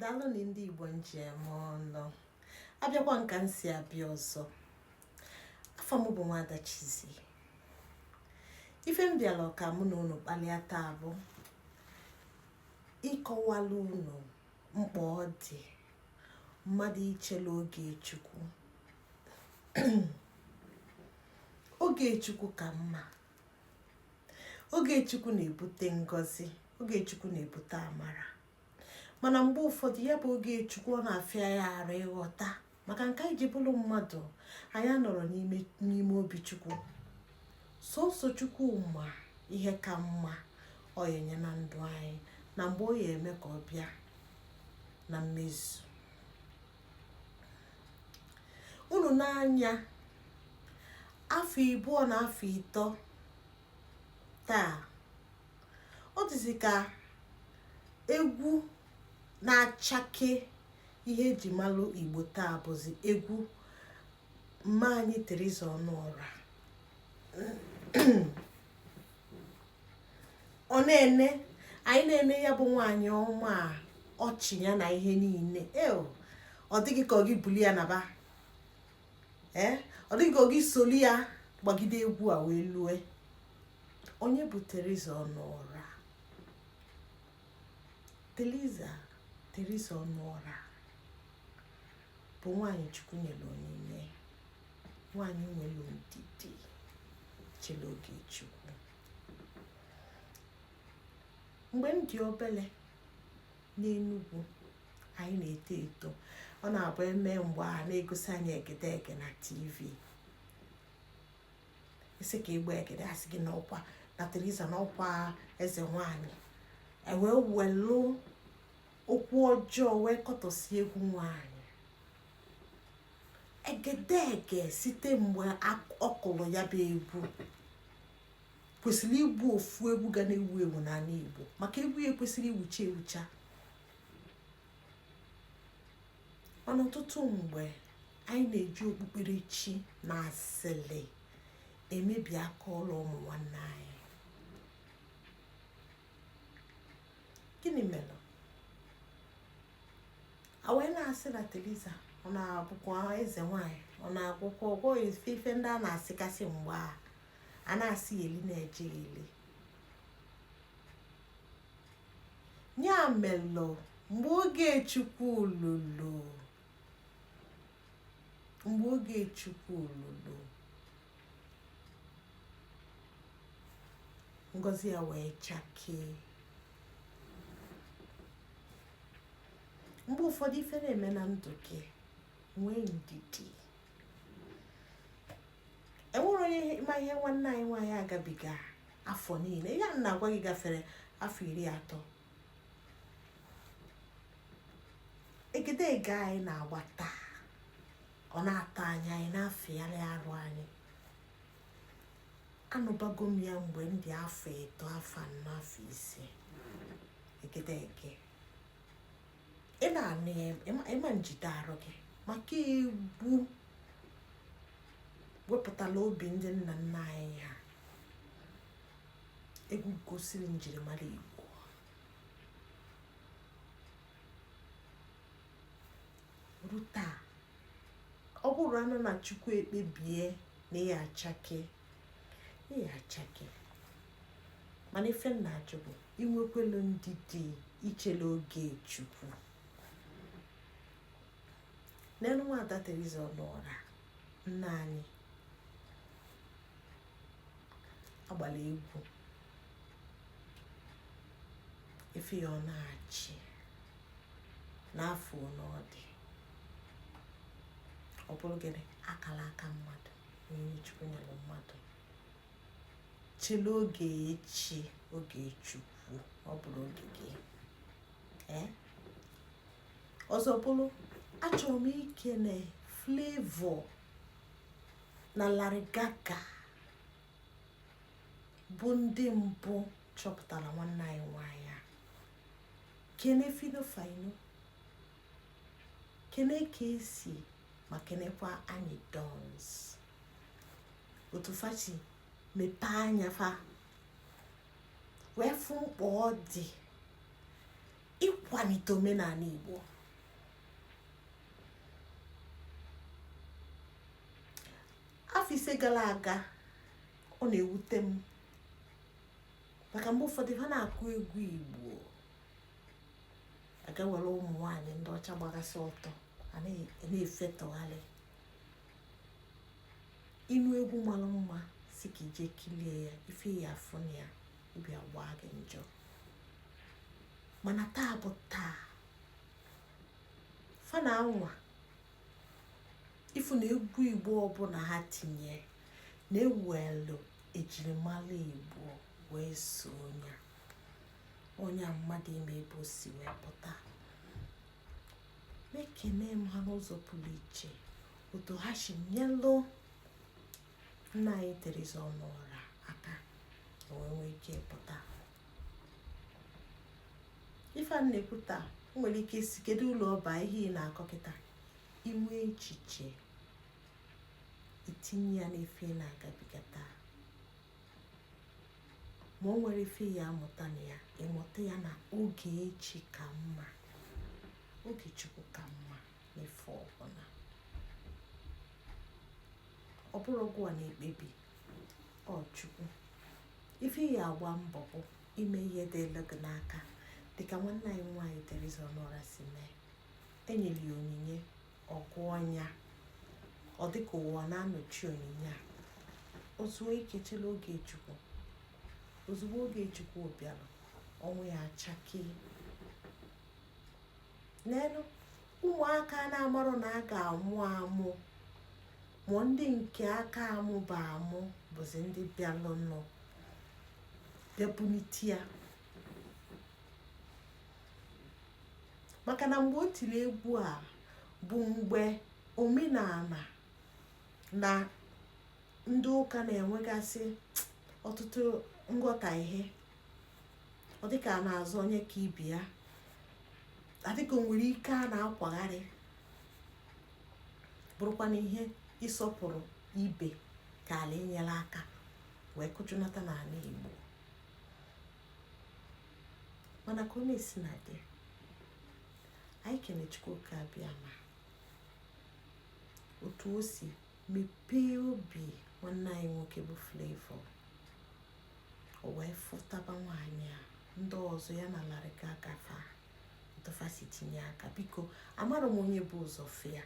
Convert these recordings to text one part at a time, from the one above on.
daalụ nụ ndị igbo m ji eme ọnụ abịakwa m ka m si abịa ọzọ afa m bụ nwada Chizie ife m bịara ka mụ na unu kpalịa taa bụ ịkọwalụ unu mkpa ọ dị mmadụ ichele oge chukwu oge chukwu ka mma oge chukwu na-ebute ngọzi oge chukwu na-ebute amara mana mgbe ụfọdụ ya bụ oge chukwu ọ na-afịa ya arụ ịghọta maka nke anyị ji bụrụ mmadụ anyị anọrọ n'ime obi chukwu sọsọ chukwu ma ihe ka mma ọ ya enye na ndụ anyị na mgbe ọ ya eme ka ọ bịa na mmezu unu nee anya afọ ịbụọ na afọ ịtọ taa ọ dịzi ka egwu na-achake ihe eji malụ igbo taa bụzi egwu mma anyị Teresa Ọnụọra ọ na-ene anyị na-ene ya bụ nwaanyị ọma a ọchị ya na ihe niile e ọ dị gị ka gị bulu ya naba ee eh, ọ dị gị ka gị solu ya gbagide egwu a wee lue onye bụ Teresa Ọnụọra Teresa Teresa Ọnụọra bụ nwaanyị Chukwu nyere onyinye nwaanyị nwere ndidi chere oge chukwu mgbe m dị obele n'enugwu anyị na-eto eto ọ na-abụ eme mgbe a na-egosi anyị egedege na tv ị sị ka ị gbaa egede a sị gị n'ọkwa na Theresa n'ọkwa eze nwanyị e wee welu okwu ọjọọ wee kọtọsi egwu nwanyị egedege site mgbe ọ kụrụ ya bụ egwu kwesịrị ịbụ ofu egwu ga na-ewu ewu n'ala Igbo maka egwu ya ekwesịrị iwucha ewucha mana ọtụtụ mgbe anyị na-eji okpukperechi na asịlị emebi aka ọlụ ụmụ nwanne anyị gịnị melụ a wee na-asị na Theresa ọ na-abụkwa eze nwanyị ọ na-agwọkwa ọgwụ ife ife ndị a na-asịkasị mgbe a a na-asị eli na-eje eli ya melụ mgbe oge chukwu lulu mgbe oge chukwu lulu ngozi ya wee chakee mgbe ụfọdụ ife na-eme na ndụ gị nwee ndidi enwere onye ma ihe nwanne anyị nwaanyị agabiga afọ niile ihe a na-agwa gị gafere afọ iri atọ egedege anyị na-agba taa ọ na-atọ anyị anyị na-afịgharị arụ anyị anụbago m ya mgbe m dị afọ ịtọ afọ anọ afọ ise egedege ị na-anụ ya ị ma njide arụ gị maka egwu wepụtala obi ndị nna nna anyị ha egwu gosiri njirimara igbo ruo taa ọ bụrụ anụ na chukwu ekpebie na ị ya-achake ị ya-achake mana ife m na-ajụ bụ i nwekwelu ndidi i chele oge chukwu neenụ nwada Teresa ọnụọra nna anyị agbala egwu ife ya ọ na-achị na afọ ole ọ dị ọ bụrụ gịnị akala aka mmadụ onye chukwu nyere mmadụ chele oge chi oge chukwu ọ bụrụ oge gị ee ọzọ bụrụ achọrọ m ikele Flavour na Larry Gaaga bụ ndị mbụ chọpụtara nwanne anyị nwanyị a kene Phyno Fino kene Kcee ma kenekwa Anyidons otu fa si mepee anya fa wee fụ mkpa ọ dị ịkwalite omenala Igbo afọ ise gara aga ọ na-ewute m maka mgbe ụfọdụ fa na-akụ egwu igbo a gaa were ụmụ nwaanyị ndị ọcha gbagasị ọtọ a na-efetọgharị ịnụ egwu mara mma sị ka i je kilie ya ife ị ya-afụ na ya obi agba gị njọ mana taa bụ taa fa na-anwa ị fụ na egwu igbo ọbụla ha tinye na-ewelu ejirimara igbo wee sonye o nye mmadụ ịma ebe o si wee pụta ma ekene m ha n'ụzọ pụrụ iche otu ha si nyelụ nne anyị Theresa Ọnụọra aka o wee nwee ike pụta ife a na-ekwu taa nwere ike ịsị kedu ulu ọ ba ihe ị na-akọ kịta i nwee echiche i tinye ya n'ife ị na-agabiga taa ma o nwere ife ị ya-amụta na ya ị mụta ya na oge chi ka mma oge chukwu ka mma n'ife ọbụla ọ bụrọ gụwa na-ekpebi ọ chukwu ife ị ya-agba mbọ bụ ime ihe dịlụ gị n'aka dịka nwanne anyị nwaanyị Theresa Ọnụọra si mee e nyere ya onyinye ọ gụọ nya ọ dịka ụwa na-anọchi onyinye a o zuo ike chela oge chukwu ozugbo oge chukwu bịara ọnwa ya achakee n'elu ụmụaka na-amarọ na a ga-amụ amụ ma ndị nke a ka amụba amụ bụzi ndị bịalụnụ bịa bunite ya maka na mgbe o tiri egwu a bụ mgbe omenala na ndị ụka na-enwegasị ọtụtụ nghọtahie ọ dịka a na-azọ onye ka ibe ya adịka nwere ike a na-akwagharị bụrụkwa na ihe ịsọpụrụ ibe kaala inyere aka wee kụjụnata n'ala Igbo mana ka ọ na-esina dị anyị kene Chukwu oke abịama otu o si mepee obi nwanne anyị nwoke bụ Flavour o wee fụtaba nwaanyị a ndị ọzọ ya na Larry Gaaga fa otu fa si tinye aka biko amarọ m onye bu ụzọ fụ ya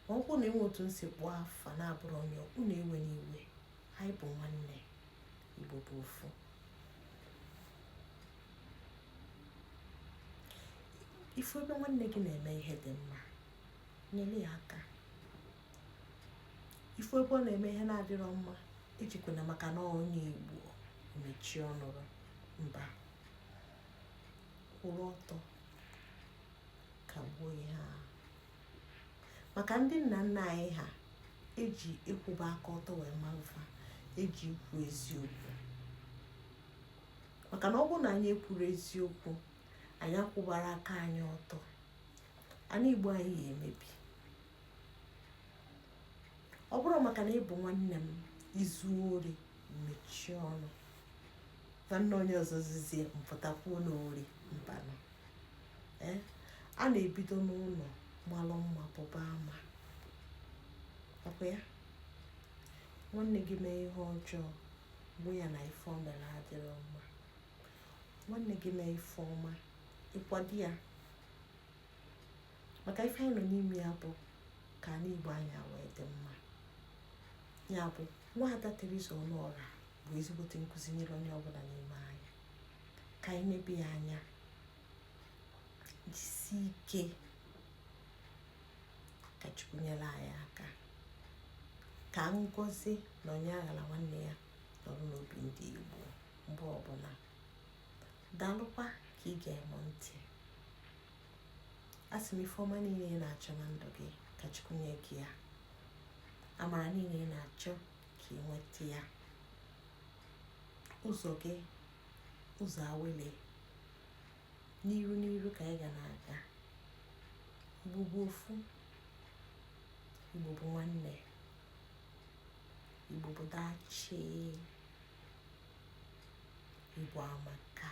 ma ọ bụrụ na e nwee otu m si kpọọ afa na-abụrọ onye unu ewena iwe anyị bụ nwanne igbo bụ ofu ị fụ ebe nwanne gị na-eme ihe dị mma nyere ya aka ị fụ ebe ọ na-eme ihe na-adịrọ mma ejikwana maka na onye igbo mechie ọnụ mba kwụrụ ọtọ kagbuo ihe a maka ndị nna nna anyị ha e ji ịkwụba aka ọtọ wee malụ fa e ji ikwu eziokwu maka na ọ bụrụ na anyị ekwurọ eziokwu anyị akwụbarọ aka anyị ọtọ ana igbo anyị ga-emebi ọ bụrọ maka na ị bụ nwanne m i zuo ori mechie ọnụ nwanne onye ọzọ zuzie m pụta kwuo n'ori mbanụ eh? a na-ebido n'ụnọ malụ mma pụba ama ọ kwa ya nwanne gị mee ihe ọjọọ ị gwa ya na ife o mere adịrọ mma nwanne gị mee ife ọma ị kwado ya maka ife anyị nọ n'ime ya bụ ka anị Igbo anyị a wee dị mma ya bụ nwaada Teresa Ọnụọra bụ ezigbote nkụzi nyere onye ọbụla n'ime anyị ka anyị nebe ya anya jisi ike ka Chukwu nyere anyị aka ka ngozi na onye aghala nwanne ya nọrọ n'obi ndị Igbo mgbe ọbụla daalụkwa ka i gere m ntị asị m ife ọma niine ị na-achọ na ndụ gị ka Chukwu nye gị ya amara niine ị na-achọ ka ị nweta ya ụzọ gị ụzọ awele n'iru n'iru ka anyị ga na-aga igbo bụ ofu igbo bụ nwanne igbo bụ dachie Igbo amaka.